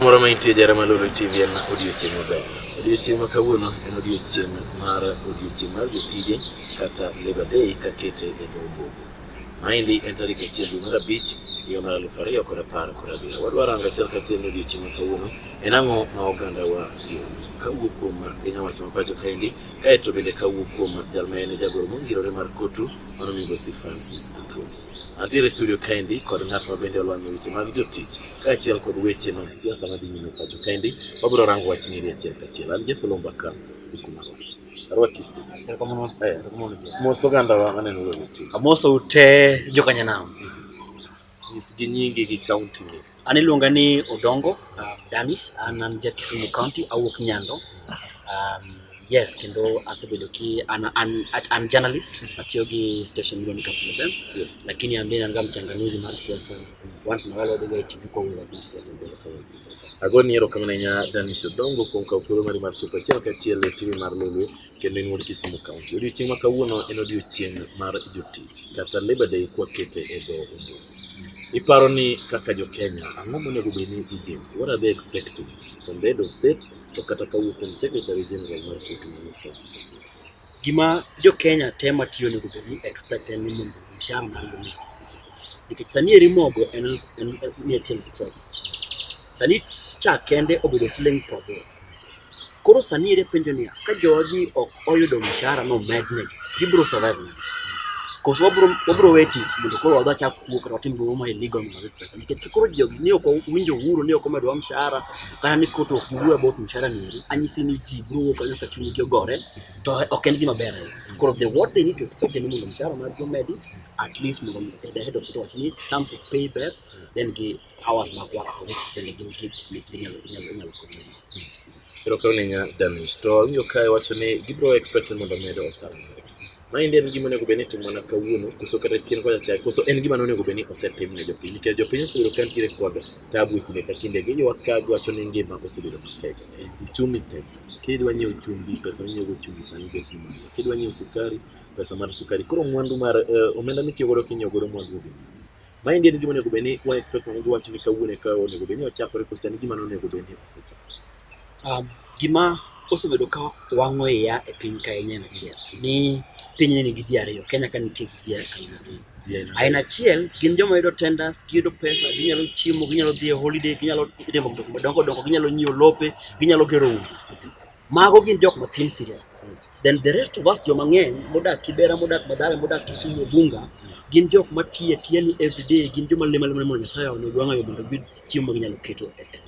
moro ma intie jara maloro tv en odiochieng' maber odiochieng' ma kawuono en odiochieng' mar odiochieng' mar jotije kata labor day kakete e dho ombogo maendi en tarik achiel dwe mar abich higa mar aluf ariyo kod apar kod abiriyo wadwa rango achiel kachiel ni odiochieng' ma kawuono en ang'o ma ogandawa yom kawuok kuom piny owacho ma pacho kaendi kaeto bende kawuok kuom jal ma en jagoro mongirore mar kotu Mano migosi Francis Atwoli. Antiere studio kaendi kod ng'at ma bende olony e weche mag jotich kaachiel kod weche mag siasa madhi nyime pacho kaendi. Wabiro rango wach ng'eri achiel kachiel. An Jeff Olomba ka Ukuma Road. Arwaki studio. Eh, mos oganda wa maneno lolo ti. Amoso ute jokanyanam. Nyisgi nyingi gi kaunti ni. An iluonga ni Odongo uh, Danis, an an ja Kisumu County, awuok Nyando. Um, yes, kendo asebedo ki an, an, an journalist atiyo gi station miluongo ni Capital FM. Yes. Lakini ambaye nanga mchanganuzi mar siasa. Once in a while wadhiga TV kwa wula mar siasa mbele kwa wula. Agoni erokamano ahinya Danis Odongo kuom kawo thuolo mari mar chopo achiel kachiel e TV mar Lolwe. kendo en wuod Kisumu County. Odiochieng' ma kawuono en odiochieng' mar jotich kata Labor Day kwakete e dho Ingereza. Iparo ni kaka jo Kenya ang'o monego bed ni igeno? What are they expecting from the head of state to kata kawuok kuom Secretary General mar Koti Mano Francis Opiyo? Gima jo Kenya tema tiyo onego bed ni expect en ni mondo mshahara mar mogo. Nikech sani eri mogo en en mia achiel gi piero abich. Sani cha kende obedo siling' piero aboro. Koro sani ere penjo niya, ka jogi ok oyudo mshahara no mednegi, gibiro survive nade? Koso wabro wabro we tich mondo koro wadwa chak kuo kata watim gimoro ma illegal mondo wayud pesa. Nikech ka koro jogi ni ok winjo uhuru ni ok omedwa mshahara kata ni koto ok giwuo about mshahara ni eri, anyisi ni ji biro wuok kanyo ka chunygi ogore to ok en gima ber ahinya. Koro the what they need to expect en ni mondo mshahara margi omedi at least mondo the head of state owach ni terms of pay ber then gi hawa zinakuwa kwenye grupu nyalo kwenye Pero ka ninga damis to winjo kae wacho ni gibiro expect mondo medo osara. Ma indi en gima onego bed ni timo mana kawuono koso kata chien kocha chai koso en gima onego bed ni osetim ne jopiny nikech jopiny oseyudo ka nitiere kod tabu e kinde ka kinde giywak ka giwacho ni ngima osebedo matek. Uchumi tek. Kidwa nyiewo chumbi pesa minyiewo chumbi sani bet ni malo. Kidwa nyiewo sukari pesa mar sukari. Koro mwandu mar uh, omenda mitiyo godo kinyieo godo mwandu Maendi en gima onego bed ni wa expect mondo giwach ni kawuono eka onego bed ni ochakore kose en gima nonego bed ni osechakore. Um, gima osebedo ka wang'o iya e piny ka en aina achiel ni piny nigi ji ariyo Kenya ka nitie gi ji aina ariyo aina achiel gin joma yudo tenders giyudo pesa ginyalo chiemo ginyalo dhi e holiday ginyalo timo gik madongo dongo ginyalo nyiewo lope ginyalo gero udi mago gin jok matin serious Then the rest of us joma ng'eny modak Kibera, modak Madhara, modak Kisumu, Bunga, gin jok ma tiye tiye ni everyday, gin joma lima lima mondo Nyasaye onego wang'ayo mondo giyud chiemo ma ginyalo keto e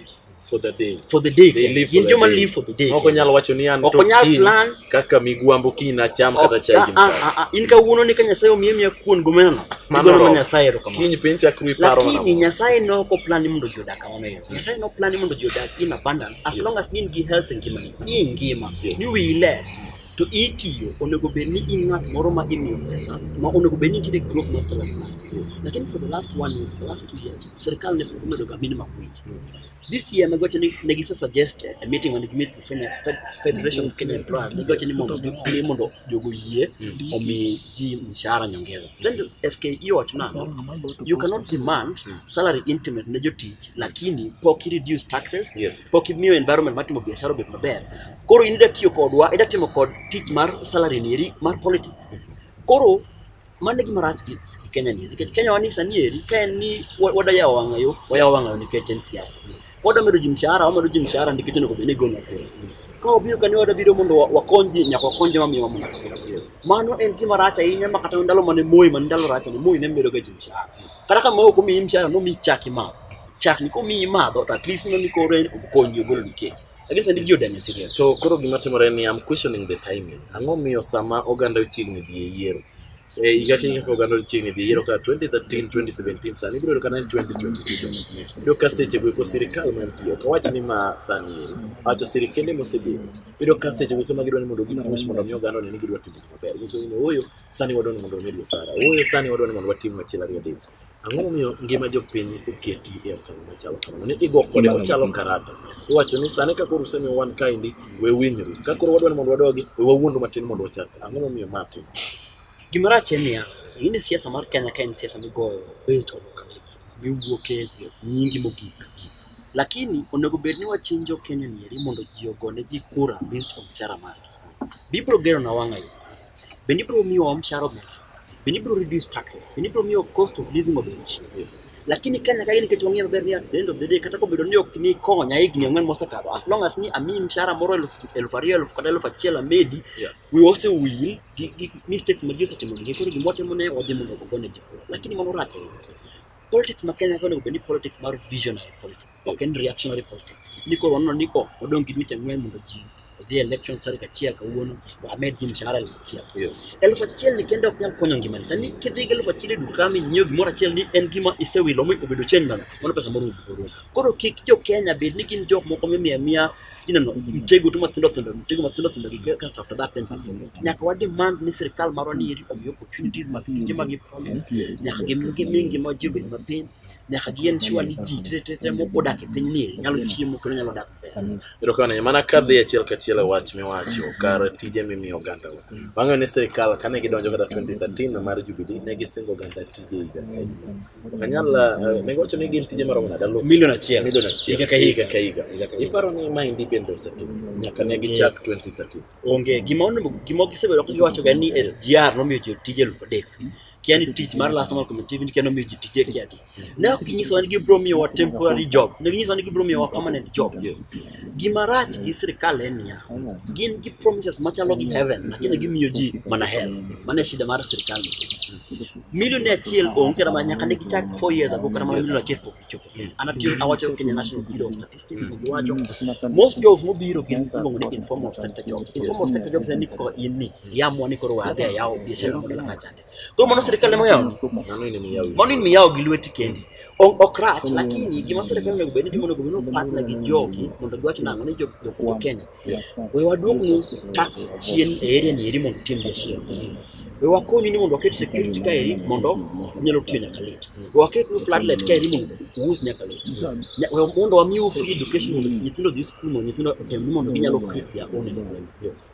for the day for the day they live for the day live for the day ok nyal wacho ni an to nyal plan kaka migwambo kiny na cham kata chai gi ah, ah, ah, in ka wuono ni ka nyasaye omiye miya kuon gomena mano ma nyasaye ero kamano kiny piny chakru iparo lakini nyasaye noko plan ni mondo jodak Amen. Nyasaye no plan mondo ji odag in abundance as yes. long as in gi health ngima ni. Ni ngima. Yes. Ni wile. Mm. To itiyo onego bed ni in ng'at moro ma imiyo pesa ma onego bed ni nitiere growth mar salary mari. Yes. Lakini for the last one year, for the last two years, serikal ne pok omedo ga minimum wage. Yes. This year me gocho ni ne gise suggest a meeting when we meet the Federation of Kenya Employers. Ne gocho ni mondo ni mondo jogo yie mm. omi ji mshahara nyongeza. Then the FKE wacho nang'o? You cannot demand hmm. salary increment ne jotich lakini pok i reduce taxes, yes. pok imiyo environment matimo biashara obed maber. Koro in ida tiyo kodwa, ida timo kod tich mar salary nieri mar politics. Koro mano e gima rach gi Kenya ni nikech Kenya wani sani eri ka en ni wadayawo wang'ayo, wayawo wang'ayo nikech en siasa. Pod amedo ji mshahara, wamedo ji mshahara ndi kitu niko bini gona kure. Ka obiro kani wada biro mondo wakonji nyaka wakonji ma miwa mna. Mano en kima racha inya ma kata ndalo mane moyi man ndalo racha ni moyi ne medo ga ji mshahara. Kata kama uko mi mshahara no mi chaki ma. Chaki ko mi ma do at least no ni kore konyi golo nikech. Lakini sandi jiyo dani serious. So koro gima timore ni I'm questioning the timing. Ang'o miyo sama oganda ochiegni dhi e yiero? E higa kiny kaka oganda chiegni dhi yiero ka 2013 2017 sani ibiro ka 2022 iyudo ka seche go sirikal mantie ok awach ni ma sani eri awacho sirikende mosebedo iyudo ka seche go ma gidwa ni mondo gipush mondo mi oganda one ni gidwa timo maber nyiso ni ooyo sani wadwa ni mondo wamed osara ooyo sani wadwa ni mondo watim achiel ariyo adek Ang'o momiyo ngima jopiny oketi e okang' machalo kamano? Ni igo kode ochalo karata. Iwacho ni sani ka koro usemiyo wan kaendi, we winjru. Ka koro wadwa ni mondo wadogi, we wawuondu matin mondo wachak. Ang'o momiyo ma tim? Gima rach en niya, in e siasa mar Kenya ka en siasa migoyo based on miwuoke nyingi mogik. Lakini onego bed ni wachinjo Kenya nieri mondo ji ogone ji kura based on sera margi. Bibiro gero na wang'ayo. bende ibiro miyo wamshahara omed, bende ibiro reduce taxes, bende ibiro miyo cost of living obed chien. Lakini Kenya kae nikech wang'eyo maber ni at the end of the day kata kobedo ni ok ni konya higni ang'wen mosekadho, as long as ni amiyi mshahara moro elfu ariyo elfu kata elfu achiel amedi, yeah. we also will gi, gi mistakes ma ji osetimo gi koro gima watimo ne wadhi mondo ogone ji, lakini mano rach ahinya. Politics ma Kenya kae onego bed ni politics mar visionary politics ok en reactionary politics. Ni koro waneno ni ko odong' gi dweche ang'wen mondo ji odhi election tarik achiel kawuono wamed ji mshahara elfu achiel. Elfu achiel ni kende ok nyal konyo ngimani. Sani kidhi gi elfu achiel e duka mi nyiewo gimoro achiel ni en gima isewilo mi obedo change mana. Mano pesa moro orumo. Koro kik jo Kenya bed ni gin jok moko mimiya miya ineno mtego tu matindo tindo mtego matindo tindo gi kasto after that then nyaka wa demand ni sirkal marwa ni omi opportunities mag tije mag nyaka gimigi mingi ma ji obed mapiny nyaka gien sure ni ji tetete moko odak e piny ni nyalo chiemo kendo nyalo dak erokamano mana ka dhi achiel kachiel e wach miwacho kar tije mimiyo oganda wa wang'eyo ni sirikal kane gidonjo kata 2013 mar jubili ne gisingo oganda tije higa kanyal eh, ne giwacho ni gin tije maromo nade milion achiel milion achiel higa ka higa ka higa iparo ni maendi bende osetimo nyaka ne gichak 2013 onge gima onego gima gisebedo ka giwacho ga ni SGR nomiyo ji tije elfu adek kia ni tich mar last national committee ni kia nomiyo ji tije kia di ne ok ginyisowa ni gibiro miyowa temporary job ne ginyisowa ni gibiro miyowa permanent job gima rach gi sirikal en niya gin gi promises machalo gi heaven lakini gimiyo ji mana hell mano e shida mar sirikal milioni achiel onge kata mana nyaka ne gichak four years ago kata mana milioni achiel pok gichopo an atiyo awacho Kenya National Bureau of Statistics ne giwacho most jobs mobiro gin iluongo ni informal sector jobs informal sector jobs en ni kaka in ni yamwa ni koro wadhi ayawo biashara mondo laka chande. Koro mano serikal ema yawo. Mano in miyawo. Mano in miyawo gi lweti kendi. Ok rach lakini gima serikal onego bed ni timo onego bed ni partner gi jogi mondo giwach nang'o ni jo Kenya. We waduoknu tax chien e area ni eri mondo tim biashara. We wakonyu ni mondo waket security ka eri mondo nyalo tiyo nyaka late. We waket nu floodlight ka eri mondo uwus nyaka late. We mondo wamiu free education mondo nyithindo dhi skul mondo nyithindo otem ni mondo ginyalo create their own employment.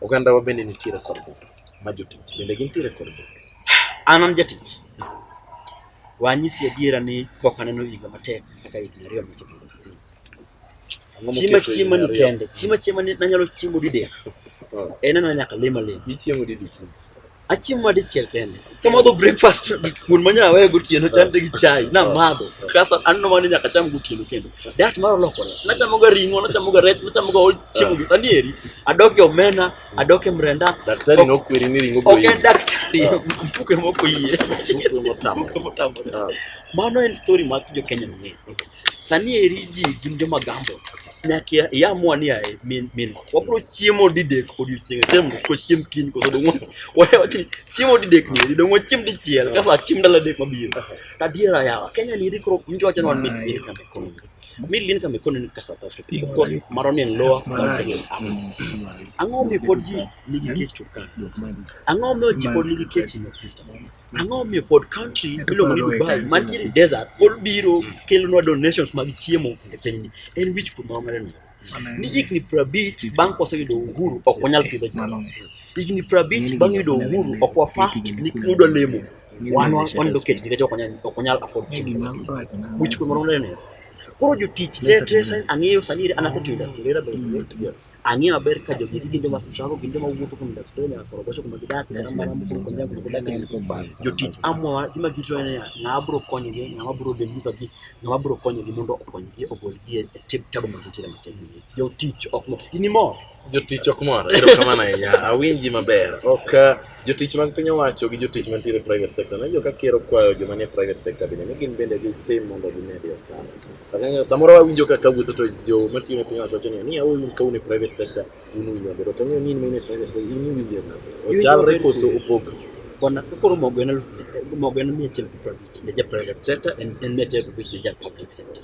Ogandawa bende nitiere kod mwandu ma jotich bende gintiere kod mwandu. An an jatich. Wanyisi adiera ni pok aneno higa matek kaka higni ariyo mosekalo. Chiema chiema ni kende, chiema chiema ni nanyalo chiemo didek. Oh. En ana nyaka lima lima. Ichiemo didek. Achiemo adichiel kende. Kamadho breakfast kuon manya aweyo gotieno chande gi chai na madho. Kasto anno mani nyaka cham gotieno kendo. Dat mar olokore. Nachamo ga ring'o, nachamo ga rech, nachamo ga ol chiemo gi sani eri. Adok e omena, adok e mrenda. Daktari nokweri ni ring'o boyi. Ok en daktari, mpuke moko yie. Mpuke motamo. Mano en story mar jo Kenya mang'eny. Sani eri ji gin joma gambo nyaka iamua ni ae min min wabro chiemo didek odiochieng' achiel mondo kik wachiem kiny koso dong' wawachi chiemo didek ni eri dong' wachiem dichiel sasa achiem ndalo adek mabiro tadiera yawa Kenya ni eri koro mtu wacho ni wan mid lin kama ekonomi mid lin kama ekonomi ka South Africa of course maro ni en lower than Kenya ang'o mi pod ji nigi kech Turkana ang'o mi ji pod nigi kech ang'o omiyo pod country miluongo ni Dubai mantiere desert pod biro mm. kelonwa donations mag chiemo e pinyni en wich kuom ma wang'ado ni higni prabich bang' kwaseyudo uhuru ok wanyal pidho jalo higni prabich bang' yudo uhuru ok wafast nikudwa lemo wan wanido kech nikech ok wanyal afford chiemo wich kuom ma wang'ado koro jotich te te ang'eyo sani an athe to industry Ang'eyo maber ka jogi gin joma sechako gin joma wuotho kuom diaspora nyaka koro gocho kuma gidak nyaka mara mukuru kuom nyaka kuma gidak jotich amwa gima gitro en niya ng'ama biro konyogi ng'ama biro deliver gi ng'ama biro konyogi mondo okonygi ogolgi e tip tabu ma gintiere matin jotich ok mor in imor jotich ok mor erokamano ahinya awinji maber ok jotich mag piny owacho gi jotich mantiere private sector najo ka ker okwayo joma nie private sector bende ni gin bende gitim mondo gimed osara Kang'eyo samoro awinjo kaka wuotho to jo matiyo ne piny owacho wacho ni a un ka un e private sector un uwinjo maber. Ok ang'eyo ni in mine private sector in iwinjo nade? Ochalre koso opogre? Bwana koro mogo en elfu mogo en mia achiel gi piero abich ne ja private sector en en mia achiel gi abich ne ja public sector.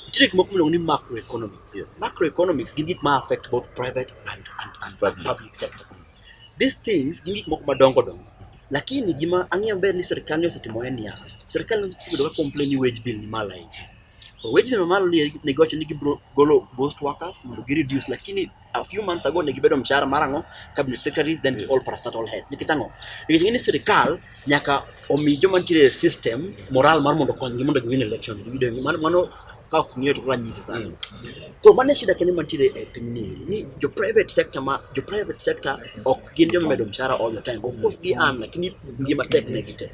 Nitie gik moko miluongo ni macroeconomics. Yes. Macroeconomics gin gik ma affect both private and, and, and Public. public sector. These things gin gik moko madongo dongo Lakini gima ang'eyo ber ni sirkal ne osetimo en niya, sirkal osebedo ka complain ni wage bill ni malo ahinya. To wage bill mamalo ni ne giwacho ni gibiro golo ghost workers mondo gi reduce, lakini a few months ago ne gibedo mshahara mar ang'o, cabinet secretaries then all parastatal head. Nikech ang'o? Nikech ng'e ni sirkal nyaka omi joma nitiere e system moral mar mondo okonygi mondo giwin election. Mano kaka kung'eyo to koro anyise sani to mano e shida kende mantiere e pinyni ni jo private sector ma jo private sector ok gin joma medo mshahara all the time of course gi an lakini ngima tek ne gite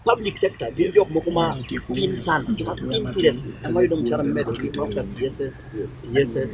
public sector gin jok moko ma tin sana joma tin seriously ema yudo mshahara mimedo gi mafuta css tss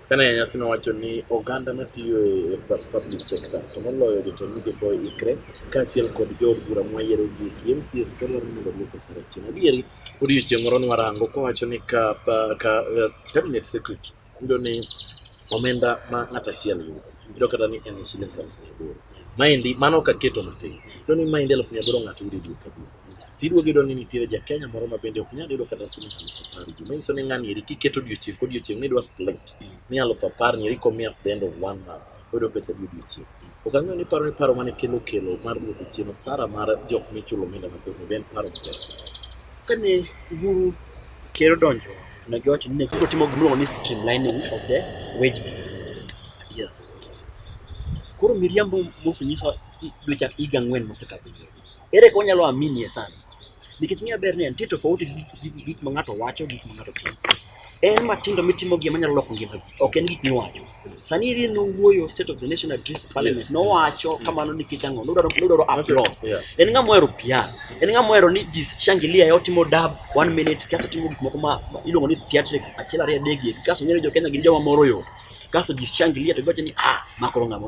Kane nyasi nowacho ni oganda matiyo e public sector to moloyo jotend migepe oikre kaachiel kod jood bura mwayiero gi MCS ka dwaro mondo oduok osara chien. Adieri odiechieng' moro nwarango kowacho ni ka, ka eh, cabinet secretary yudo ni omenda ma ng'at achiel yudo yudo kata ni en shilingi elfu mia aboro maendi mano kaketo matin to ni maendi elfu mia aboro ng'ato yudo dwe ka dwe Tiduogo iyudo ni nitiere ja Kenya moro ma bende ok nyal yudo kata siling alufu apar juma. Manyiso ni ng'ani eri kiketo odiochieng' kodiochieng' nidwa split ni alufu apar ni eri komi at the end of one month oyudo pesa di odiochieng'. Ok ang'eyo ni iparo ni paro mane kelo kelo mar duoko chien osara mar jok michulo omenda mathoth ni be en paro maber. Kane Uhuru ker odonjo to ne giwacho ni ne koro timo gimiluongo ni streamlining of the wage bill. Koro miriambo mosenyiso dwe chak higa ang'wen mosekadho nyoro. Ere kaka wanyalo aminie sana? Nikech ng'eyo ber ni en nitie tofauti gi gik ma ng'ato wacho, gik ma ng'ato timo. En matindo mitimo gi manyalo loko ngima ji, ok en gik miwacho. Sani iri nowuoyo State of the Nation Address Parliament, nowacho kamano nikech ang'o? Nodwaro nodwaro applause. Yeah. En ng'ama ohero piano, en ng'ama ohero ni ji shangilia e otimo dab one minute, kaso otimo gik moko ma ma iluongo ni theatrics achiel ariyo adek gi eki, kaso ong'eyo ni jo Kenya gin joma moro yo. Kaso ji shangilia to giwacho ni ah, ma koro ng'ama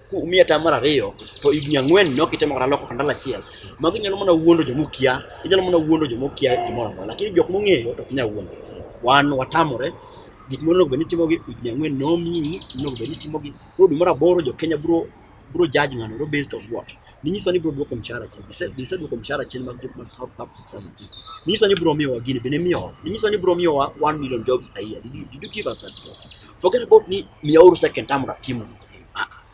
kuumi ata mar ariyo to higni ang'wen ne ok itemo kata loko kandala achiel. Magi nyalo mana wuondo joma okia, inyalo mana wuondo joma okia gimoro amora, lakini jok mong'eyo to ok nyal wuondo. Wan watamore gik monego bed ni itimogi higni ang'wen nomiyi, onego bed ni itimogi. Koro dwe mar aboro jo Kenya biro biro judge ng'ano biro based on what? Ninyiso ni biro duoko mshahara chien. Gise gise duoko mshahara chien mag jok mag top up examiti. Ninyiso ni biro miyowa gini bende miyowa. Ninyiso ni biro miyowa 1 million jobs a year. Did you, did you give us that? Forget about ni miyauru second term na timu.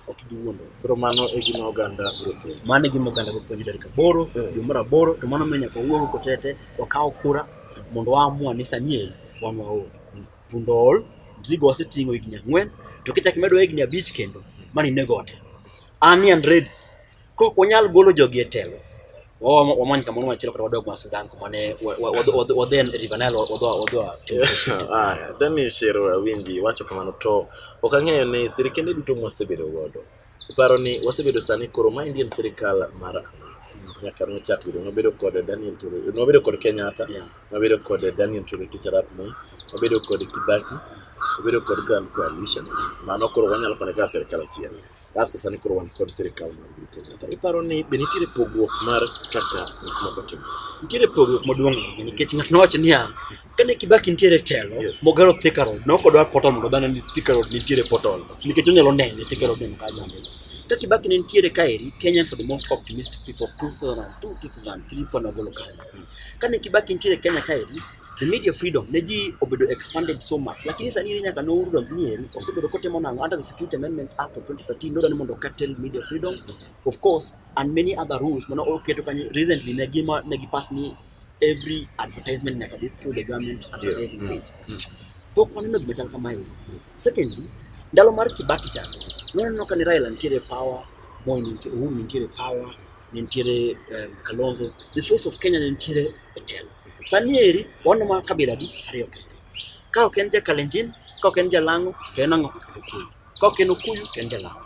ok giwuondo. Koro mano e gima oganda biro puonjo. Mano e gima oganda biro puonjo tarik aboro eh. dwe mar aboro to mano miyo nyaka wawuog oko tete wakaw kura mondo waamua ni sani e wan waol. Punda ool, mzigo waseting'o higni ang'wen to kichak imedo higni abich kendo mano inego ote. An ni and ready. Kok wanyal golo jogi e telo. Wamany kamoro machielo kata wadog ma Sudan kuma ne wadhi River Nile wadwa wadwa. Ah, Dani Shero Awinji wacho kamano to ok ang'eyo ni sirkende duto mwasebedo godo. Iparo ni wasebedo sani koro ma Indian sirkal mar nyaka nochak bedo nobedo kod Daniel Tore nobedo kod Kenyatta nobedo kod Daniel Tore Teacher Arap Moi nobedo kod Kibaki nobedo kod Grand Coalition mano koro wanyalo kone kaka sirkal achiel Kasto sani koro wan kod sirikal mar piny Kenya. To iparo ni be nitiere pogruok mar kaka gik moko timore? Nitiere pogruok maduong' ahinya nikech ng'ato nowacho niya, kane Kibaki nitiere e telo, Yes. mogero Thika Road, ne ok odwar portal mondo dhano ni Thika Road nitiere portal nikech onyalo nene Thika Road neno kaka jambe. Ka Kibaki ne nitiere kaeri, Kenyans are the most optimistic people 2002, 2003 kwanogolo kare. Kane Kibaki nitiere Kenya kaeri, The media freedom ne ji obedo expanded so much lakini sani ni nyaka nouru dong nieri osebedo kotimo nang'o under the Security Amendments Act of 2013 nodwani mondo curtail media freedom of course and many other rules mana oketo kanyo recently ne gima ne gipass ni every advertisement nyaka be through the government advertising yes. Mm. page mm. Mm. pok waneno gima chal kamae secondly ndalo mar Kibaki cha noneno ka ni Raila nitiere power Moi nitiere Uhuru nitiere power nitiere um, Kalonzo the face of Kenya nitiere e telo Sani eri wan ma kabila di ariyo kende. Ka ok en Jakalenjin, ka ok en Jalang'o, to en ang'o? Okuyu. Ka ok en Okuyu, to en Jalang'o.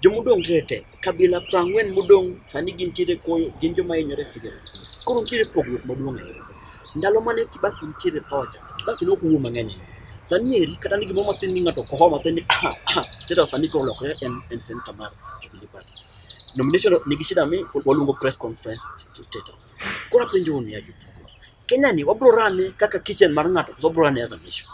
Jomodong' rete, kabila prang'wen modong' sani gintiere koyo, gin joma hinyore siges. Koro nitiere pogruok maduong' ahinya. Ndalo mane Kibaki nitiere power cha, Kibaki ne ok wuo mang'eny ahinya. Sani eri kata ni gimoro matin ni ng'ato koho matin ni ah ah, state of sani koro olokore en en senator mar Jubilee Party. Nomination nigi shida mi waluongo press conference state of Koro penjo ni ya jutu. Kenya ni wabro rane kaka kitchen mar ng'ato to wabro rane as a nation.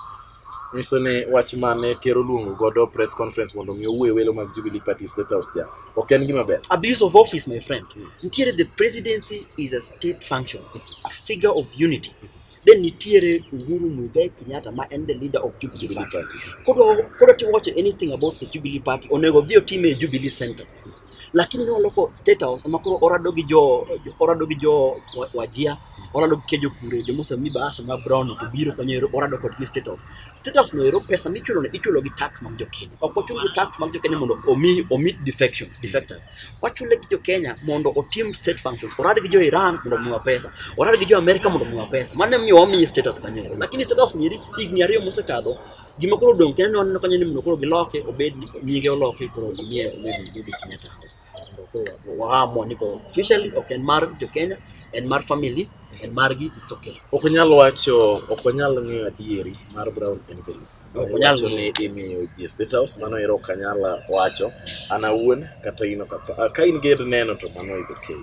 Nyiso ni wach mane ker oluongo godo press conference mondo mi owuoye welo mag Jubilee Party State House cha. Ok en gima ber. Abuse of office my friend. Hmm. Nitiere the presidency is a state function, a figure of unity. Hmm. Then nitiere Uhuru Muigai Kenyatta ma en the leader of Jubilee Party. Kodwa kodwa to watch anything about the Jubilee Party onego dhi otime e Jubilee Center. lakini ne oloko state house ma koro orado gi jo orado gi jo wajia orado gi kejo kure jo mose mi bahasha ma brown to biro kanyo ero orado kod gi state house state house no ero pesa michulo ne ichulo gi tax mag jo Kenya ok ochul gi tax mag jo Kenya mondo omi omi defection defectors wachule gi jo Kenya mondo otim state functions orad gi jo Iran mondo omiwa pesa orad gi jo America mondo omiwa pesa mane miyo wamiye state house kanyo lakini state house nyeri higni ariyo mosekadho Gima koro dong' kendo waneno kanyo ni mondo koro giloke obed nyinge oloke koro omiye obed David Kenyatta House. Mondo koro waamua ni koro officially ok en mar jo Kenya, en mar family, en margi it's okay. Ok onyal wacho, ok onyal ng'eyo adieri mar Brown Envelope. Ok onyal wacho ni imiyo ji State House, mano ero ok anyal wacho an awuon kata in ok. Ka in gi neno to mano is okay.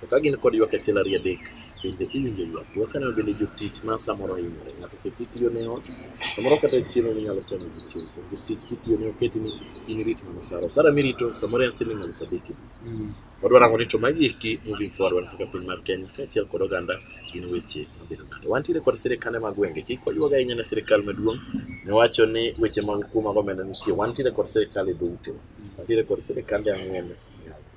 To ka gin kod ywak achiel ariyo adek, bende iwinjo ywak. Waseneno bende jotich ma samoro hinyore. Ng'ato ket itiyo ne ot, samoro kata chiemo minyalo chamo gi chiemo. To jotich titiyo ne oketi ni in irit mana osara. Osara mirito samoro en siling aluf adek. Wadwa rango ni to magi eki moving forward wan kaka piny mar Kenya kaachiel kod oganda gin weche mabedo nade. Wantiere kod sirikande mag gwenge. Kik wayuag ahinya ne sirikal maduong' niwacho ni weche mag kuo mag omenda nitie. Wantiere kod sirikal e dho utewa. Wantiere kod sirikande ang'wen e Nyanza.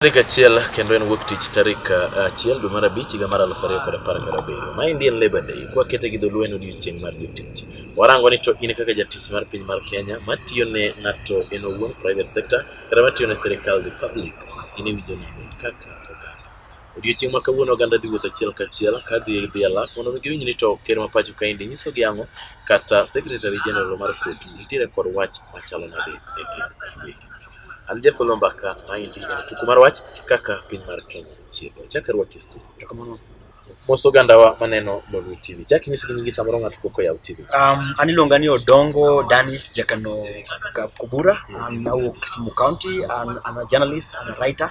Tarik achiel kendo en wuok tich tarik uh, achiel dwe mar abich higa mar aluf ariyo kod apar kod abiriyo ma Indian Labour Day kwakete gi dholuo en odiechieng' mar jotich. Warango ni to in kaka jatich mar piny mar Kenya matiyo ne ng'ato en owuon private sector kata matiyo ne sirikal the public in iwinjo nade kaka oganda. Odiochieng' ma kawuono oganda dhi wuotho achiel kachiel ka dhi dhi alak mondo mi giwinj ni to ker ma pacho kaendi nyiso gi ang'o kata secretary general mar court nitiere kod wach machalo nade e piny Amerika. An Jafolo Mbaka maendi en tuku mar wach kaka piny mar Kenya chiego. Chaka rwak kistu. Mos ogandawa maneno Lolwe TV. Chak inyis gi nyingi samoro ng'ato pok oyaw TV. Um, an iluonga ni Odongo Danis Jakano Kubura. An awuok Kisumu County. An, I'm a journalist, I'm a writer.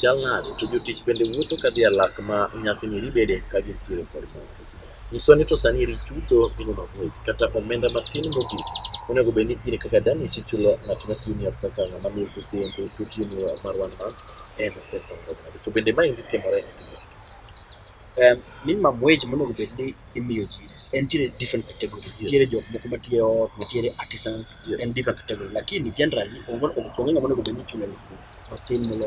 Chal nade to jotich bende wuotho ka dhi e lak ma nyasini ribede ka gintiere kod mor? Nyiswa ni to sani eri chudo minono gweth kata omenda matin mogik onego bed ni in kaka Danis ichulo ng'at matiyo ni kaka ng'ama miyo kusembe to tiyo ni mar one month en pesa marom nade? To bende maendi timore e piny Um, minimum wage monego bed ni imiyo ji en tiere different categories yes. tiere jok moko matiye ot nitiere artisans yes. en different category lakini generally onge ng'ama monego bed ni chulo elfu matin molo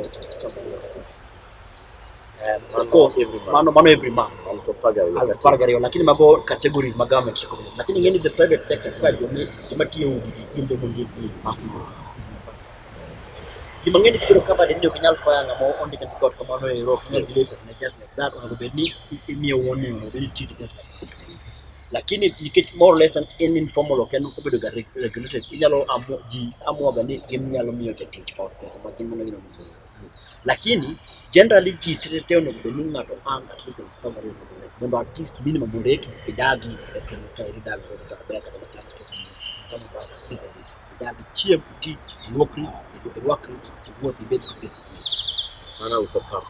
Um, of course, every month. Mano, mano every month. Alipagario, lakini mago categories ma government recognize. Lakini ngeni the private sector kwa jomatiyo udi, jombe mungi, possible. Gima ng'eny kibiro cover ni ok nyal fire ng'ama ondik and record kamano e rock ne delay pesa ne just like that onego bed ni imiyo warning onego bed ni treat just like that. Lakini nikech more or less an in informal ok en obedo ga reg- regulated inyalo amu ji amuaga ni gin nyalo miyo jatich ot pesa ma gin mana gino mokoro. Lakini generally ji tete te onego bed ni ng'ato ang at least en kama riyo mondo nek. Mondo at least minimum mondo eki idagi e piny ka idagi e kaka ber kata kaka kama basa at least Dag chiem, ti, luokri, irwakri, iwuoth, ibed kod disiplin. Mano uso pap.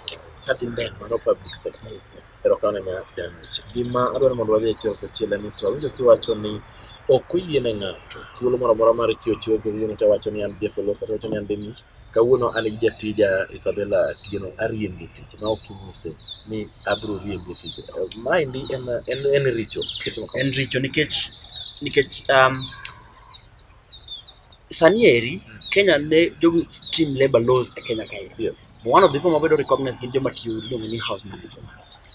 Kadhi mbele mano public service. Erokamano nya Dennis. Gima adwaro mondo wadhi achiel kachiel en ni to awinjo kiwacho ni ok oyie ne ng'ato thuolo moro amora mar chiwo chiwo kawuono to awacho ni an Jeff Oloo kata awacho ni an Dennis kawuono an gi jatija Isabella Atieno ariembi e tich ma ok inyise ni abiro riembi e tich. Maendi en, en, en richo. En richo nikech nikech um, Sani eri Kenya ne jogi stream labor laws e Kenya kae. Yes. One of the people mabedo recognized gin joma tiyo iluongo ni house managers.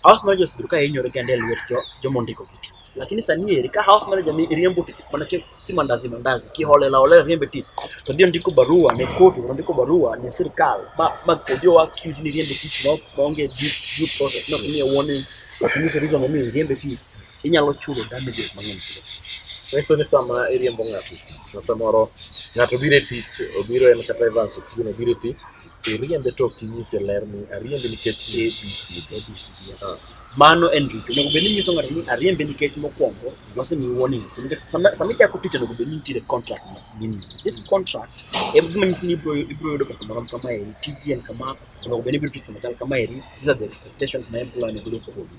House managers bedo ka hinyore kende e lwet jo joma ondiko gi tich. Lakini sani eri ka house manager mi riembo tich mana ki ki mandazi mandazi ki holela holela riembe tich. To dio ndiko barua ne kotu, to ndiko barua ne sirkal. Ma ma kodio wa accuse ni riembe tich no onge due due process. No ni warning. Lakini reason momiyo riembe tich. inyalo chulo damages mang'eny chulo. Nyiso ni sama iriembo ng'ato e tich, ma samoro ng'ato biro e tich, obiro en kata Evans Otieno obiro e tich, to iriembe to ok inyise ler ni ariembe nikech ABC. Ah. Mano en richo. Onego bed ni inyiso ng'ato ni ariembe nikech mokwongo wasemiyi warning. So, nikech sama sama ichako tich onego bed ni nitiere contract ma gini. This contract em gima nyisi ni ibro ibro yudo pesa marom kama eri, tiji en kama, onego bed ni ibiro tich sama chal kama eri. These are the expectations ma employer onego bed ni oketo.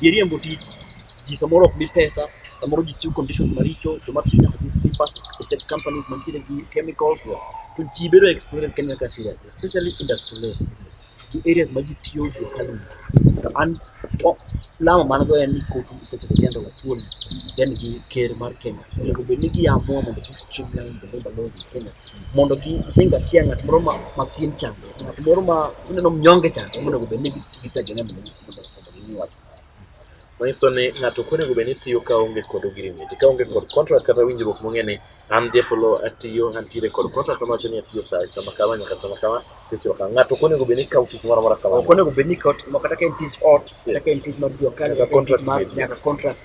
Ji riembo tich, ji samoro ok mi pesa, samoro ji chiwo conditions maricho, joma tiyo nyaka gi slippers, asset companies mantiere gi chemicals, to ji bedo exploited Kenya ka serious, especially industry level. Gi areas ma ji tiyo gi economy. To an o- lamo man go en ni kotu Secretary General Atuoli then gi ker mar Kenya onego bed ni giamua mondo gi streamline the labor laws in Kenya mondo gi sing achiel ng'at moro ma ma pien chande ng'at moro ma ineno mnyonge chande monego bed ni gitagene mondo gi- manyiso ni ng'ato ok onego bed ni tiyo ka onge kod agreement ka onge kod contract kata winjruok mong'e ni an Jefolo atiyo antiere kod contract mawacho ni atiyo saa kama kama nyaka kama kama tichwa kama ng'ato ok onego bed ni kawo tich moro amora kama ok onego bed ni kawo tich moro kata ka en tij ot kata ka en tij mar jua kali kata ka en tij mar nyaka contract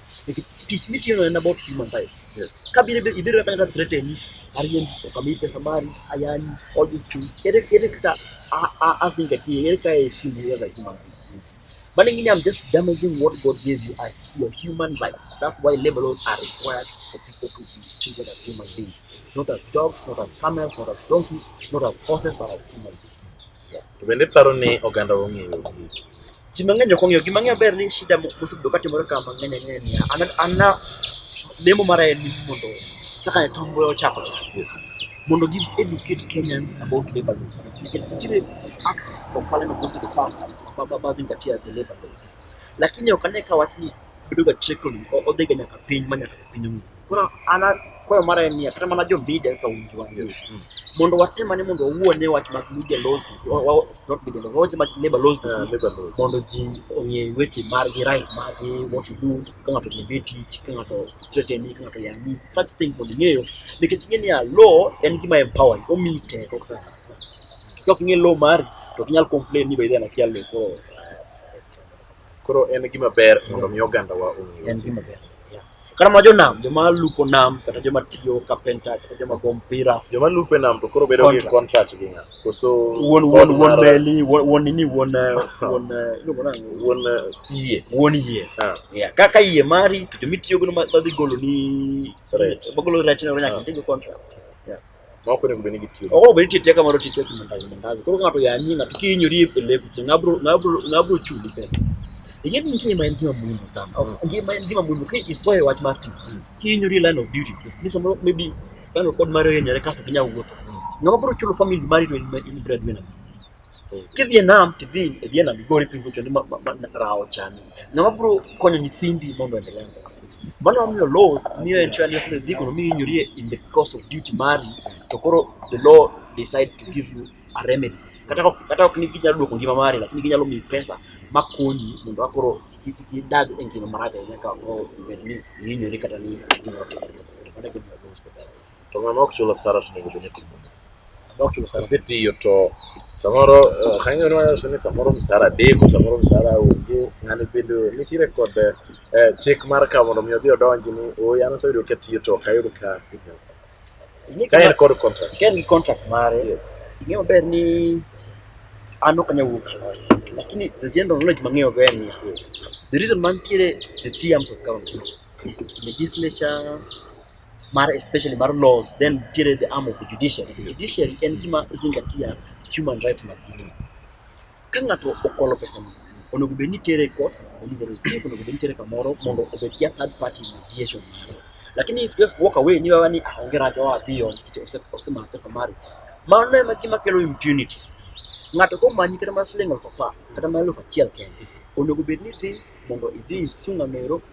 tich mitiyono en about human rights Yes. ka biro ibe- ibiro kata threateni ariembi okamii pesa mari ayani all these things ere ere kaka a- a- asingatie ere kaka aheshimu you as a human being but ingine i'm just damaging what god gave you as your human rights that's why labor laws are required for people to be treated as human beings not as dogs not as camels not as donkeys not as horses but as human beings To bende paro ni oganda ong'eyo gigi. Ji mang'eny ok ong'eyo. Gima ang'eyo ber ni shida mo- mosebedo ka timore ka mang'eny ang'eyo niya, an an na lemo mara en ni mondo kaka Nyatumbwe ochako cha. Mondo gi educate Kenyan about labor law. Nikech nitiere act of parliament mosebedo passed ba- ba- ba zingatia the labor law. Lakini ok ane ka wachni bedoga trickling, o- odhiga nyaka piny ma nyaka pinyruoth koro an akwayo mara en niya kata mana jo media kaka winjo wan yes. mm. mondo watem ane mondo wawuo ne wach mag media laws not media laws wawache mag labor laws uh, labor laws mondo ji ong'e weche margi right margi what you do ka ng'ato tiende tich ka ng'ato threateni ka ng'ato yangi such things mondo ing'eyo nikech ing'e niya law en gima empower omiyi teko kaka ka ok ing'e law mari to ok inyal complain ni by then akia law koro Koro en gima ber mondo mi ogandawa ong'e en gima ber Yeah. kata ma jonam joma lupo nam kata joma tiyo kapenta kata joma go mpira joma lupe nam to koro bedo gi Contract. contract gi ng'a koso wuon wuon wuon mar- meli wuon wuon nini wuon eh, wuon eh, iluongo nang'o? wuon eh, yie wuon yie Ah, Yeah, kaka yie mari to jomitiyogo madhi golo ni Rech. magolo rech ne nyaka Ah. ntigo contract Moko onego bed ni gitiyo. Oro bed tiyo teka moro tiyo timo ndazi ndazi. Koro ng'ato ya ni ng'ato ki nyori e lebu ti ngabro ngabro ngabro chuli pesa. Ing'e ni ngima en gima muhimu sana. Ngima en gima muhimu ki ipoe wach mar ti. Ki nyori line of duty. Ni somo maybe spinal cord mare yenyere kasto kinya wuotho. Ng'ama bro chulo family mari to in breadwinner. Kidhi e nam tidhi e dhi e nam igori pingo kendo ma rawo chani. Ng'ama bro konyo nyithindi mondo endelee mbele. Mano mamiyo laws miyo en chwa ni ok dhi kono miyo inyori in the course of duty mari to koro the law decides to give you a remedy. Kata ok kata ok ni ginyalo duoko ngima mari lakini ginyalo miyi pesa makonyi mondo akoro kik kik idag e ngima marach ahinya ka ok ibed ni ihinyori kata ni gimoro otimore. Mano e gima laws konyo. To ng'ama ok chul osara to onego bed ni timo ang'o? Ng'ama ok chul osara. Osetiyo to samoro eh, kanyo ne wacho ni samoro msara deko, samoro msara onge, ng'ani bende nitiere kod eh, chik mar ka mondo mi odhi odonji ni ooyo an aseyudo ka tiyo to ok ayud ka imiya msara. Ing'e Ka en kama- kod contract. ka en gi contract mare Yes. ing'e maber ni an ok anyal wuok kaloy lakini the general knowledge mang'eyo go en niya the reason mantiere the three arms of government legislature mar especially mar laws then nitiere the arm of the judiciary the judiciary en gima zingatia human rights mag dhano ka ng'ato okwalo pesa no onego bed ni tere e court onego bed chief onego bed ni tere kamoro mondo obed ja third party mediation mare lakini if just walk away ni wewe ni ah onge rach oa dhi on kiti osema pesa mari mano ema gima kelo impunity ng'ato komanyi kata mar siling' aluf apar kata mar aluf achiel kende onego bed ni dhi mondo idhi isunga mero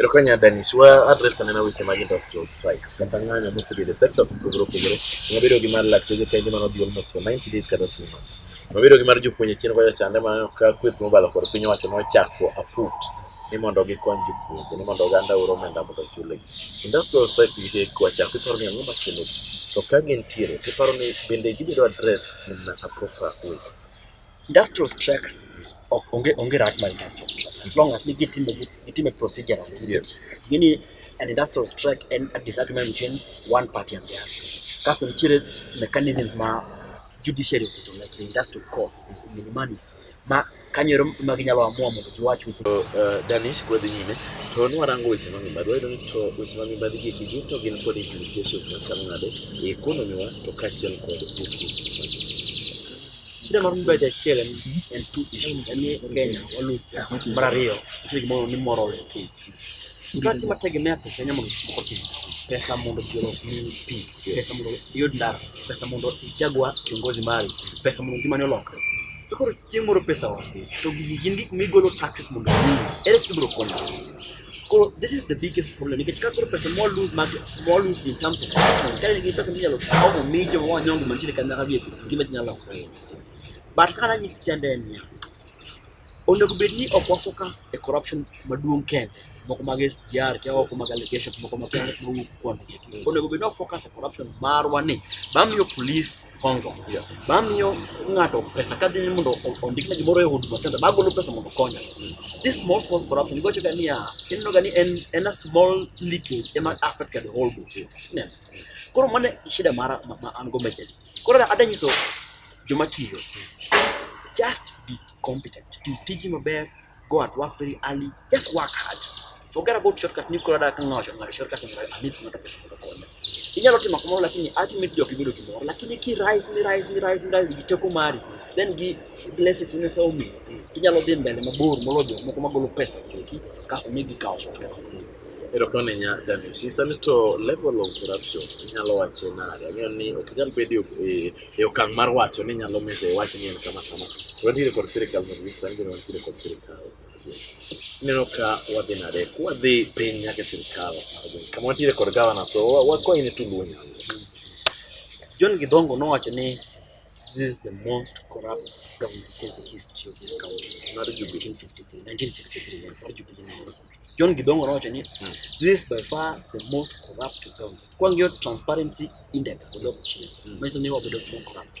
Erokanyo Danis, wa adres anena weche mag industrial strikes kata ng'anyo mosebedo e sectors mopogore opogore. Nyabedo gi mar lakteche kende mano dhi almost for 90 days kata 3 months. Nyabedo gi mar jopuonje chien kocha chande ma ka kweth mobalo kod piny owacho nochako aput ni mondo gikony jopuonje ni mondo oganda oro omenda mondo ochulegi. Industrial strikes gi te kwachako iparo ni ang'o makelo gi? To ka gintiere tiparo ni bende gibedo address in a proper way? Industrial strikes ok onge onge rat mar industrial strike as long as ni gitime gitime procedural yes. gini an industrial strike en a disagreement between one party and the other kaso nitiere mechanism ma judiciary oketo like the industrial courts milimani ma kanyero ma ginyalo amua mondo giwach weche uh, uh, Danish kwadhi nyime to nwarango weche ma mibadhi wayudo ni to weche ma mibadhi gi eki duto gin kod implications machalo nade e ekonomiwa to kaachiel kod weche Shida mar mbedo achiel en en tu en ni Kenya walus pesa. Mar ariyo, nitie gimoro ni moral pi. Sati mategemea pesa nyamo moko pi. Pesa mondo ji olos ni pi. Pesa mondo iyud ndara. Pesa mondo ichagua kiongozi mari. Pesa mondo ngimani olokre. To koro chieng' moro pesa onge. To gigi gin gik migolo taxes mondo iyud. Ere kaka ibiro konyo? Koro, this is the biggest problem. Nikech ka koro pesa more lose market, more lose in terms of investment. Kare nigi pesa minyalo kawo mo mijo wa nyongo mantiere kanyaka gi gima nyalo konyo. But kana ni chande ni. Onego bed ni ok focus e corruption maduong' kende. Moko mag SGR, kaya moko mag allegations, moko mag kaya mowuok kuonde. Onego bed ni focus e corruption marwa ni. Bamiyo police kongo yeah. bamiyo ng'ato pesa kadhi ni mondo ondikne gimoro e huduma center bagolo pesa mondo okonya mm. this small small corruption igocho ga niya ineno ga ni en, en a small leakage ema affect the whole book yes. yeah. koro mane shida mara ma, ma an go mechel koro ada nyiso joma tiyo just be competent ti tiji maber Go at work very early. Just work hard. Forget about shortcut. Ni kwa dada kanga washo ngari shortcut ni amit kuna tapesa kwa konya. Inyalo tima kumoro lakini ultimate job ibedo kumoro lakini ki rise mi rise mi rise mi rise gichoko mari then gi blessings ne sa omi inyalo dhi mbele mabor molojo moko magolo pesa kiki kaso mi gikawo shortcut. Erokamano nya Dennis. Isa ni to level of corruption inyalo wache nade? Ang'eyo ni ok inyal bedo e e okang' mar wacho ni nyalo meso e wach ni en kama kama. Wantiere kod sirikal mondo mi sani bende wantiere kod sirikal. Ineno ka wadhi nade? Wadhi piny nyaka e sirikal. Kama wantiere kod gavana so wakwayi ni tuluo nyalo. John Gidongo nowacho ni this is the most corrupt government since the history of this country. Mar jubilee 1953, mar jubilee John Gidongo nowacho ni hmm. this is by far the most corrupt government. Kwa ng'iyo transparency index odok chien. Hmm. Manyiso ni wabedo more corrupt.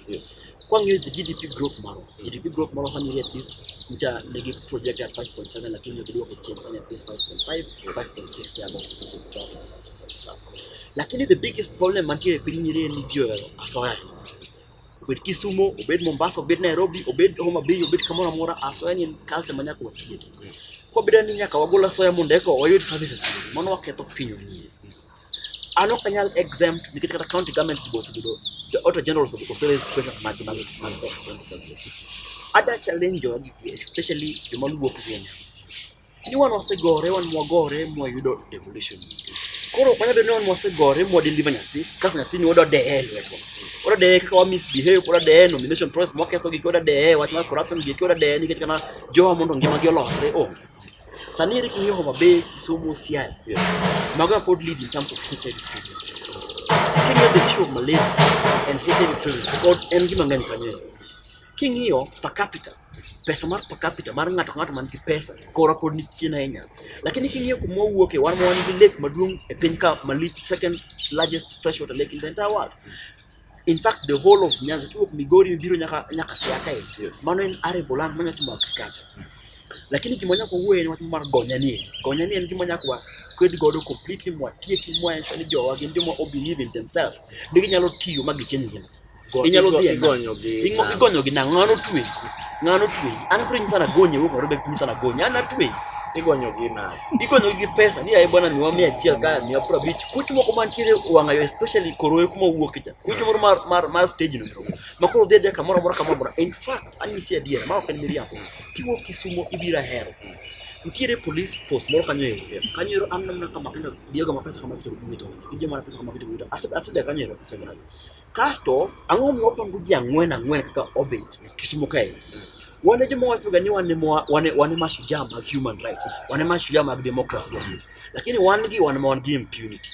Kwa ng'iyo the GDP growth maro. GDP growth maro sani ni at least ncha nigi project at 5.7 lakini obedo kwa chini sani at least 5.5, 5.6 ya bongo. Lakini the biggest problem mantiere piny nyiri ni jio asoya. obed Kisumo, obed Mombasa, obed Nairobi, obed Homa Bay, obed kamoro amora, asoya ni en culture ma nyaka watiek. Kwabeda ni nyaka wagol asoya mondo eko wayud services, mano waketho piny wanyie. An ok anyal exempt nikech kata county government be osebedo the auditor general oseraise question mag mag mag expenditure. Ada challenge jogi especially joma luwo Kenya. ni wan wasegore wan mwagore mwayudo devolution koro ok wanyalo ni wan mwasegore mwadeliver nyathi kaso nyathini wada deye lwetwa wada deye kaka wa misbehave wada deye nomination process mwaketho gik wada deye wach mar corruption gik wada deye nikech kana jowa mondo ngimagi olosre onge sani ere king'iyo Homa Bay Kisumu Siaya yes. mago are pod lead in terms of HIV prevalence king'iyo the issue of malaria and HIV prevalence pod en gima ng'eny kanyo King'iyo per capita pesa mar per capita mar ng'ato ng'ato man gi pesa kora pod ni chien ahinya lakini king'iyo kuma owuok e wan ma wan gi lake maduong' e piny ka malich second largest freshwater lake in the entire world in fact the whole of Nyanza kiwuok Migori biro nyaka nyaka Siaya kae yes. mano en arable land manya timo agriculture lakini gima nyaka wuoye en wach mar gonya ni gonya ni en gima nyaka wa kwed godo completely mwatieki mwaenso ni jowa gin joma obelieve in themselves ni ginyalo tiyo ma gicheny ngima inyalo dhi igonyo gi nang'o ng'ano twe ng'ano twe an koro nyisa nagonye wuok narobe nyisa nagonye an atwe igonyo gi na igonyo gi pesa ni ayi bwana miwa mia achiel ka miwa pro bich kuch moko mantiere wang'ayo especially koroe kuma wuok cha kuch moro mar mar mar stage no ma koro dhi adhiya kamoro amora kamoro amora in fact anyisi adiera ma ok en miriambo kiwuok kisumo ibira hero nitiere police post moro kanyo ero kanyo ero an namna kama kendo diego ma pesa kama kitoro kuwito ije mana pesa kama kitoro kuwito asida kanyo ero pesa gana Kasto ang'o ma wapango ji ang'wen ang'wen kaka obet Kisumu kae. Wane joma wacho ga ni wane wane wane mashujaa mag human rights, wane mashujaa mag democracy. Lakini wan gi wan ma wan gi impunity.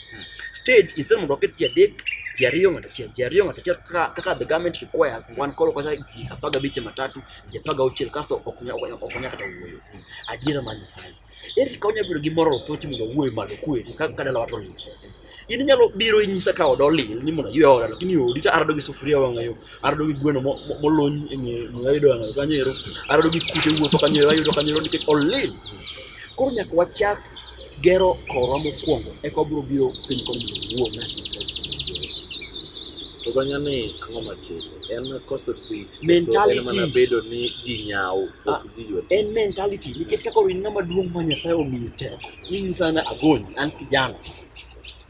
Stage instead mondo waket ji adek ji ariyo ng'ato achiel ji ariyo ng'ato achiel kaka the government requires wan koro kata ji apar gabich matatu ji apar gauchiel kasto ok nyal kata wuoyo. Adiera mar Nyasaye. Eri ka onya bedo gi moral thoti mondo wuoyo malo kwe ka ka dala wato ni. In nyalo biro inyisa ka odo lil ni mondo yue oda lakini odi ta arado gi sufuria wanga yo. Arado gi gweno mo molony e nge mo ayudo wanga kanyero. Arado gi kute wuotho kanyero ayudo kanyero nikech olil. Koro nyaka wachak gero korwa mokwongo eka obiro biro piny kod mondo wuo na To zanya ni ang'o makele? En koso tich. Mentality. En mana bedo ni ji nyao. En mentality nikech kaka orin ng'ama duong' ma Nyasaye omiye teko. Mimi sana agony an kijana.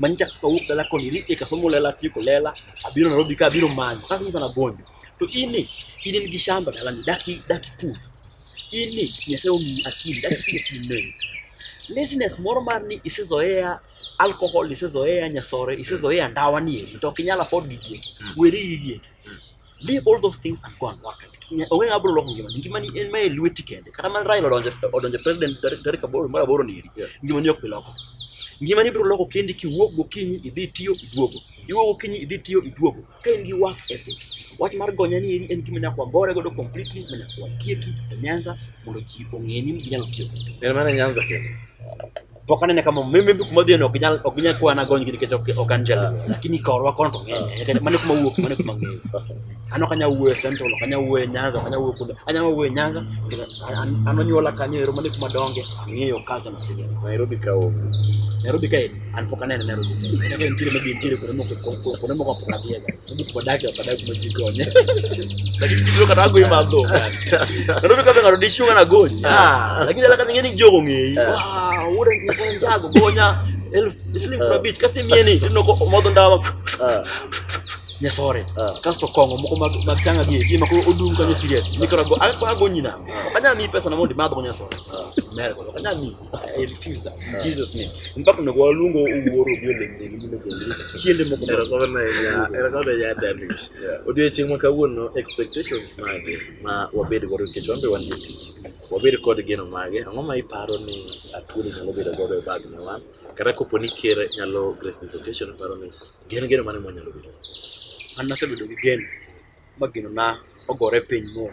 Manyicha kaka wuok dala koni ni eka somo lela tieko lela abiro Nairobi ka abiro manyo. Kaka mimi sana agony. To ini ini nigi shamba dala ni daki daki pur. Ini Nyasaye omiyi akili daki tiyo kinene. Laziness moro mar ni isezoea alcohol, isezoea nyasore, isezoea ndawa ni to ok inyal afford gigi. Weri gigi. leave all those things and go and work onge ng'ama biro loko ngimani ngimani en mae lweti kende kata mana Raila odonjo odonjo president tarik aboro mar aboro ni eri ngimani ok bi loko ngimani biro loko kendi kiwuok gokinyi idhi tiyo iduogo iwuok gokinyi idhi tiyo iduogo ka in gi work ethic wach mar gonya ni eri en gima nyaka wagore godo completely ma nyaka watieki e Nyanza mondo ji ong'e ni ginyalo tiyo kode en mana Nyanza kende pok anene kama mimi kuma dhie no ginyal ok ginyal kwa nagony gi nikech ok ok anjel lakini ka orwa kono to ng'eny nikech mane kuma wuok mane kuma ng'eyo ano kanya wuwe central kanya wuwe nyanza kanya wuwe kuda anya wuwe nyanza ano nyola kanya ero mane kuma donge ng'eyo culture na siasa Nairobi ka onge Nairobi ka an pok anene Nairobi ka nitiere maybe nitiere kuno moko kuno moko pok adhiega maybe pok adake ok adake kuma jikonye Lakini kidogo kata go ima go. Ndio kama ngarudishwa kana goji. Ah, lakini alaka nyingine jogo ngei. Ah, ura ni kwa njago gonya. Elf, islim kwa bit kasi mieni. Ndio kwa modo ndawa. Ah. nyasore ah. kasto kongo moko mag changa gi gi mako odum kanyo serious ah. nikora go ako ago nyina ah. kanya mi pesa na mondi madho nyasore mer ko kanya mi I refuse that. In Jesus name. Mpaka na kwa lungo uworo bio le le le le. Chiende mo kuna kwa na ya era kwa ya damage. Odio chimwa ka wuono expectations mage ma wabed godo kech wambe wan jotich. Wabed kod geno mage. Ang'o ma iparo ni atwoli nyalo bedo godo e bag ne wan? Kata kopo ni ker nyalo grace this occasion paro ni gen geno mane mo nyalo bedo. An nasebedo gi geno ma geno na ogore piny mo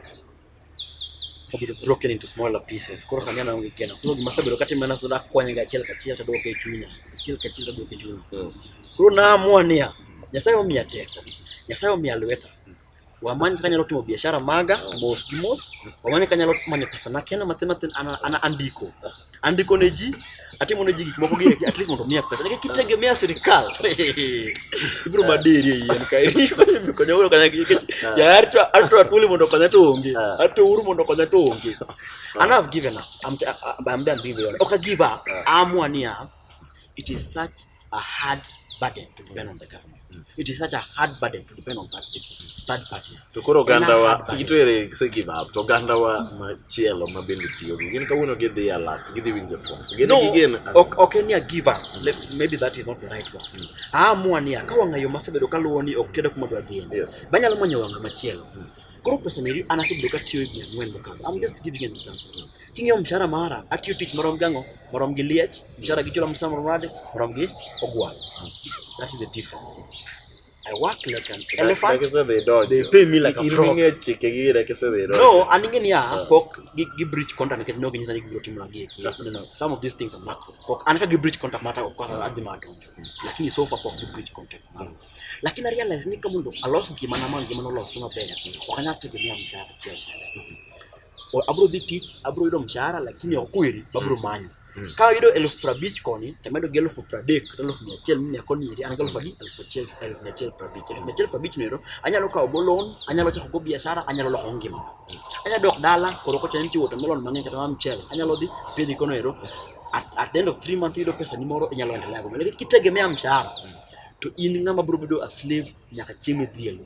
obedo broken into smaller pieces koro sani anaonge keno koro gima asebedo katimo en asoda akwanyega achiel kachiel taduoke e chunya achiel kachiel taduoke e chunya hmm. koro naamua niya nyasaye omiya teko nyasaye omiya lweta wamany kaka anyalo timo biashara maga mos gi mos wamany kaka anyalo manyo pesa nakena mathin mathin an andiko andiko ne ji atimo ne ji gik moko gini at least mondo miya pesa nikech kitegemea sirikal ibiro maderi e yien ka konya uru konya nikech ah. ya arto arto atuli mondo konya to onge ah. arto uru mondo konya to onge and I've given up I'm I'm done being real okay give up ah. amua niya it is such a hard burden to depend on the government It is such a hard burden to depend on third people. Third party. To koro oganda wa ito ere se give up. To oganda wa ma chielo ma bende tiyo gi gin kawuono gi dhi alak, gi dhi winjo to. Gin no, gi gin. Okay, okay, ni a give up. Let, maybe that is not the right one. Mm. Ah, mua ni ka wanga yo masebedo ka luwo ni ok kedo kuma dwa dhi. Yes. Banyalo manyo wanga machielo. Mm. Koro pesa meri anasebedo ka tiyo gi ng'wen mokalo. I'm just giving an example. King'iyo mshahara mara, atiyo tich marom gi ang'o? Marom gi liech, mshahara gi chula msamo mrade, marom gi ogwal. That is the difference. I work like an elephant. Like so they dodge. They pay me like a frog. Iringe chike gi like so they dodge. No, aninge ni ah pok gi gi breach contract nikech no ginyisa ni gibiro timo lagi. No, no. Some of these things are macro. Pok an ka gi breach contract mata of course adhi mato. Lakini so far pok gi breach contract. Mm. Lakini I realize ni kama ndo alos gimana man gimana olos maber. Wakanyata gimia mshahara chel. abro dhi tich abro yudo mshahara lakini ok kweri babro mm. manyo mm. ka yudo elfu prabich koni to medo gi elfu pradek to elfu mia achiel mine koni iri an gi elfu adi elfu achiel elfu mia achiel prabich elfu mia achiel prabich noero anyalo kawo go loan anyalo chako go biashara anyalo loko ngima mm. anyalo dok dala koro kocha nitie wuoto melon mang'eny kata ma mchele anyalo dhi pidhi kono ero at, at the end of three months yudo pesa ni moro inyalo endelea go mele kitegemea mshahara to in ng'ama bro bedo a slave nyaka chieng' midhielo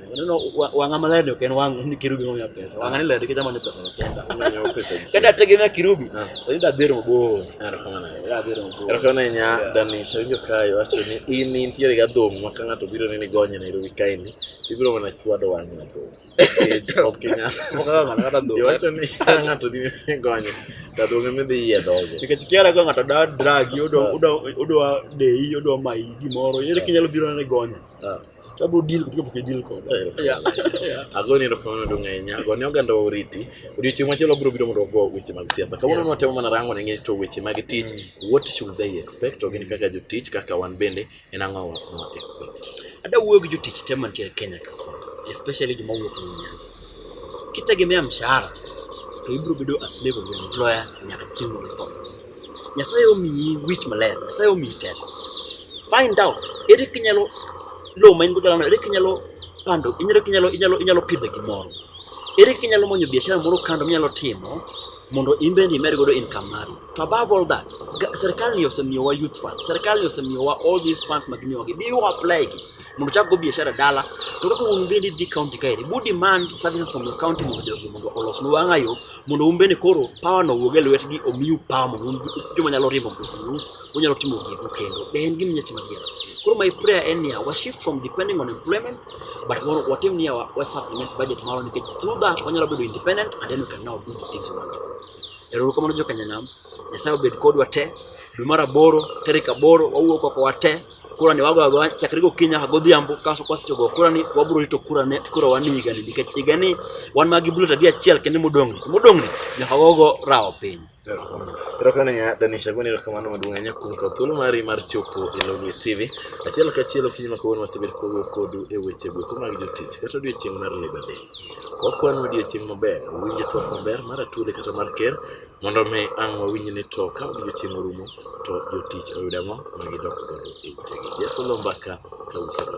Unaona wangama leo kena wangu ni kirubi ngomya pesa. Wangani leo kija mwana pesa kenda. Ngomya pesa. Kenda tegemea kirubi. Ndio dero mbo. Ndio kama na. Ndio dero mbo. Ndio kama nya dani shanjo kayo acho ni ini ntiere ga domu makanga to biro ni gonya na irubi kaini. Ibiro mana chwa do wanya to. Okenya. Okanga mana kata do. Acho ni kanga to ni gonya. Ta do ngame de ye do. Nikachikiara kwa ngata da drag yodo udo udo dei yodo mai gimoro. Yere kinyalo biro ni gonya. Ah. sababu deal kutoka kwa deal kwa yeah yeah ago ni ndoka ndo ngenya ago ni oganda oriti odi chuma chelo bro biro ndo go weche mag siasa kama unaona temo mana rango ngenya to weche mag teach mm. what should they expect ogini kaka jo teach kaka wan bende en ango wa expect ada wuoyo gi jo teach tema ntiere Kenya ka especially joma wuok ni Nyanza kitegemea mshahara to ibro bedo a slave of employer nyaka chieng' moro Nyasaye omiyi wich maler, Nyasaye omiyi teko. Find out ere kinyalo lowo ma in go dalano, ere kinyalo pando, inyalo kinyalo inyalo inyalo pidho gimoro. Ere kinyalo manyo biashara moro kando minyalo timo mondo in bende imed godo income mari. To above all that, serikal ni osemiyowa youth fund, serikal ni osemiyowa all these funds ma gimiyowa gi, biwa apply gi mondo chak go biashara dala to kaka un bende dhi county kaeri bu demand services from your county mondo jogi mondo olosnu wang'ayo mondo un bende koro power no wuog e lwetgi omiu power mondo un joma nyalo riembo mtokniu unyalo timo gigo kendo be en gima inyalo timo adier koro my prayer en niya wa shift from depending on employment but mondo watim niya wa, wa supplement budget marwa nikech through that wanyalo bedo independent and then we can now do the things we want to do erouru kamano jokanyanam nyasaye obed kodwa te dwe mar aboro tarik aboro wawuok oko wa te kura ni wago ago chakre gokinyi nyaka godhiambo kaso kwasecho go kura ni wabiro rito kura ne kura wan higa ni nikech higa ni wan magi bullet adi achiel kendo modong' ni modong' ni nyaka wago rawo piny Erokamano ya Danisha Gwani, erokamano maduong' ahinya kuom kawo thuolo mari mar chopo e Lolwe TV. Achiel kachiel okinyi ma kawuono wasebedo kawuoyo kodu e weche gweko mag jotich kata odiechieng' mar Labour Day. Wakwano odiechieng' maber, winjo twak maber mar Atwoli kata mar Ker Mondo mi ang' wawinj ni to ka odiechieng' orumo to jotich oyud ang'o ma gidok godo e utegi. Yesu lo mbaka ka ukedo